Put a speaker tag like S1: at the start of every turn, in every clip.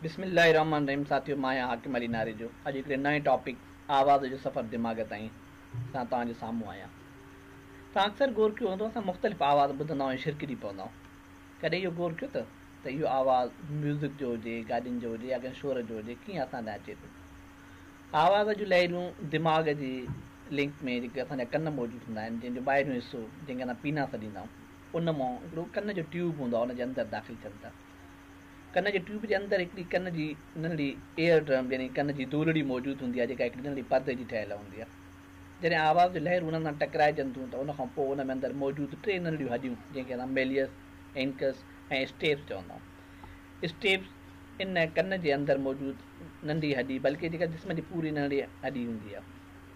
S1: بسم الله الرحمن الرحيم ساٿيو مان آهيان حاڪم علي ناريجو اڄ هڪڙي نئين ٽاپڪ آواز جو سفر دماغ تائين سان توهان جي سامهون آهيان توهان اڪثر غور ڪيو هوندو اسان مختلف آواز ٻڌندا آهيون شرڪجي پوندا آهيون ڪڏهن اهو غور ڪيو ته ته اهو آواز ميوزڪ جو هجي گاڏين جو هجي يا ڪنهن شور جو هجي ڪيئن اسان تائين اچي ٿو آواز جون لهريون دماغ جي لنڪ ۾ جيڪي اسان جا ڪن موجود هوندا آهن جنهن جو ٻاهريون حصو جنهن کي اسان پينا سڏيندا آهيون ان مان هڪڙو ڪن جو ٽيوب هوندو آهي ان جي اندر داخل ٿين ٿا ڪن جي ٽيوب جي اندر هڪڙي ڪن جي ننڍڙي ايئر ڊرم يعني ڪن جي دولڙي موجود هوندي آهي جيڪا هڪڙي ننڍڙي پردي جي ٺهيل هوندي آهي جڏهن آواز جون لهرون انهن سان ٽڪرائجن ٿيون ته ان کان پوء ان ۾ اندر موجود ٽي ننڍڙيون هڏيون جنهن کي اسان ميليس، انڪس ۽ اسٽيپس چوندا آهيون. اسٽيپس ان ڪن جي اندر موجود ننڍي هڏي بلڪه جيڪا جسم جي پوري ننڍڙي هڏي هوندي آهي.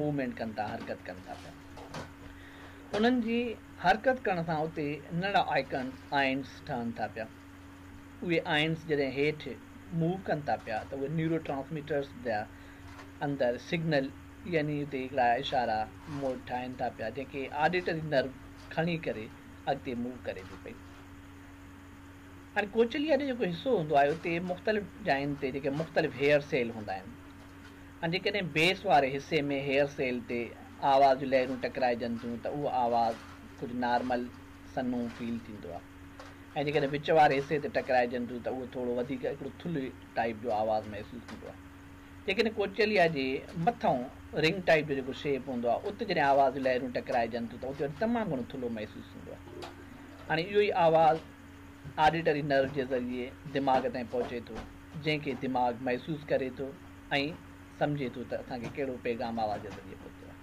S1: موومينٽ ڪن ٿا حرڪت ڪن ٿا پيا انهن جي حرڪت ڪرڻ سان اتي ننڍڙا آئيڪنس آئنس ٺهن ٿا پيا اهي آئنس جڏهن هيٺ موو ڪن ٿا پيا ته اهي نيورو ٽرانسميٽرس جا اندر سگنل يعني اتي هڪڙا اشارا موڊ ٺاهن ٿا پيا جنهن کي آڊيٽري نرو کڻي ڪري اڳتي موو ڪري ٿي پئي هاڻي ڪوچليا جو جيڪو حصو هوندو آهي اتي مختلف جاين تي جيڪي مختلف هيئر سيل هوندا آهن ۽ جيڪڏهن بيس واري حصي ۾ هيئر سيل تي آواز جون لهرون ٽڪرائجن ٿيون ته اهو آواز ڪجهه نارمل، سنهون، فيل ٿيندو آهي ۽ جيڪڏهن وچ واري حصي تي ٽڪرائجن ٿيون ته اهو ٿورو وڌيڪ هڪڙو ٿلهي ٽائيپ جو آواز محسوس ٿيندو آهي. جيڪڏهن ڪوچيليا جي مٿئون رنگ ٽائيپ جو جيڪو شيپ هوندو آهي ات جڏهن آواز جون لهرون ٽڪرائجن ٿيون ته ات وٽ تمام گهڻو ٿلهو محسوس ٿيندو آهي. هاڻي اهو ئي آواز. آڊيٽري نرو جي ذريعي دماغ تائين پهچي ٿو جنهن کي دماغ محسوس ڪري ٿو ۽ سمجهي ٿو ته اسان کي ڪهڙو پيغام آواز جي ذريعي پهتو آهي.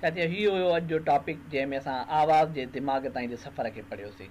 S1: ساٿيو هي هيو اڄ جو ٽاپڪ جنهن ۾ اسان آواز جي دماغ تائين جي سفر کي پڙهيوسين.